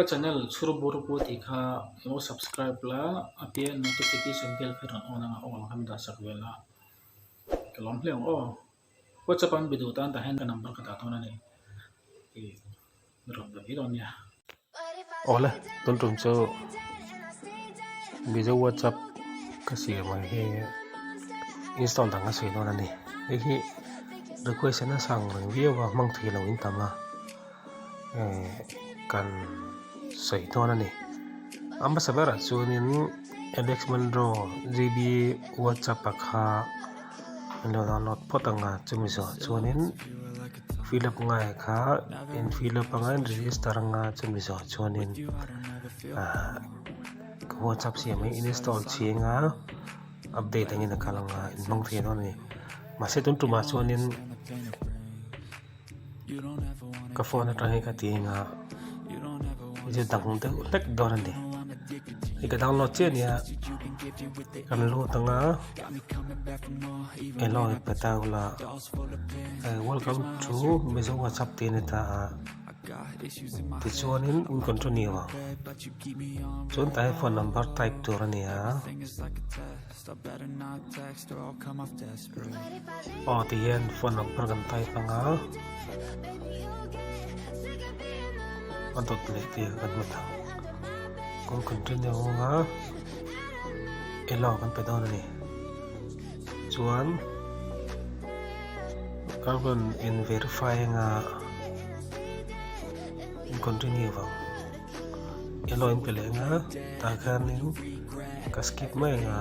Ka channel chhur bur pu tih kha lo subscribe la, a piah in notification bell kha rawn on ang a all kan dah sak ve la, ka lawm hle ang aw, whatsapp an be duh tan tah hian ka number ka dah dawn a ni, rawn be viau nia. Awle tun tum chu mizo whatsapp ka siam ang he install dang a sawi dawn a ni, hei hi request a sang reng viau a hmang theih lo in tam a. imm kan sawi dawn a ni a hmasa berah chuanin alex monroe g b whatsapp a kha an lo download phawt ang a chumi zawh chuanin fill up nghaiah kha in fill up anga in register anga chumi zawh chuanin ah ka whatsapp siam hi install chhing a update angin a kal ang a inhmang thei dawn a ni mahse tun tumah chuanin-- Ka phone atang hi ka ti anga zir dang deuh hlek dawn a ni i ka download chiah a nia kan lut anga hello petaula i welcome to mizo whatsapp tih a ni ta a tichuanin in continue ang chuan tah hian phone number type tur a ni a. Aw ti hian phone lam pawh kan pai phang a, a dawt leh tir kan hmu thang. Kawng continue nghawng a, elo kan pe dawn a ni. Chuan ka rawn in verify ang a, in continue vang. Elo in pe leh ang a, tah khian in ka skip mai ang a.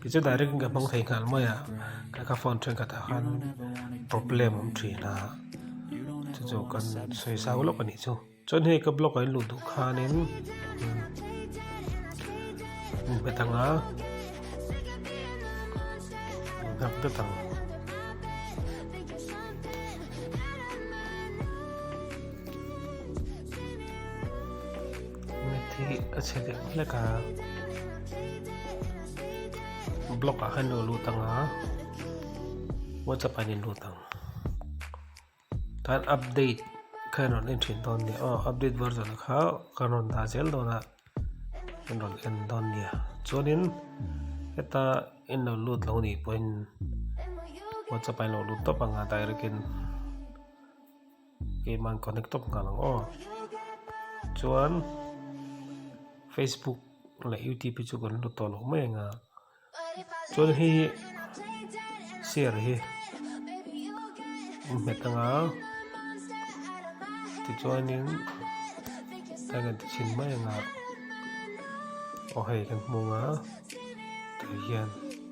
Kei chu direct in ka hmang thei nghal mai a, ka ka phone thenkhat ah khan problem awm thin a, chu chu kan sawi zau lawk a nih chu. Chuan hei ka block ah in luh duh khan in min hmet ang a, min nghak dat ang. Met hi ka chhe lek hlek a. Block ah khan lo lut ang a. WhatsApp ah in lut ang. Tan update khan rawn en thin dawn nia. Oh, update version kha kan rawn dah zel dawn a. Kan rawn en dawn nia. Chuanin heta in lo lut lo nih pawhin WhatsApp ah in lo lut tawp ang a direct in. game an connect tawp nghal ang aw chuan facebook leh youtube hi chu kan la tawh loh mai anga chuan hei hi chair hi innghet anga tichuanin kan rawn ti chhin mai anga aw hei kan hmung a tui hian.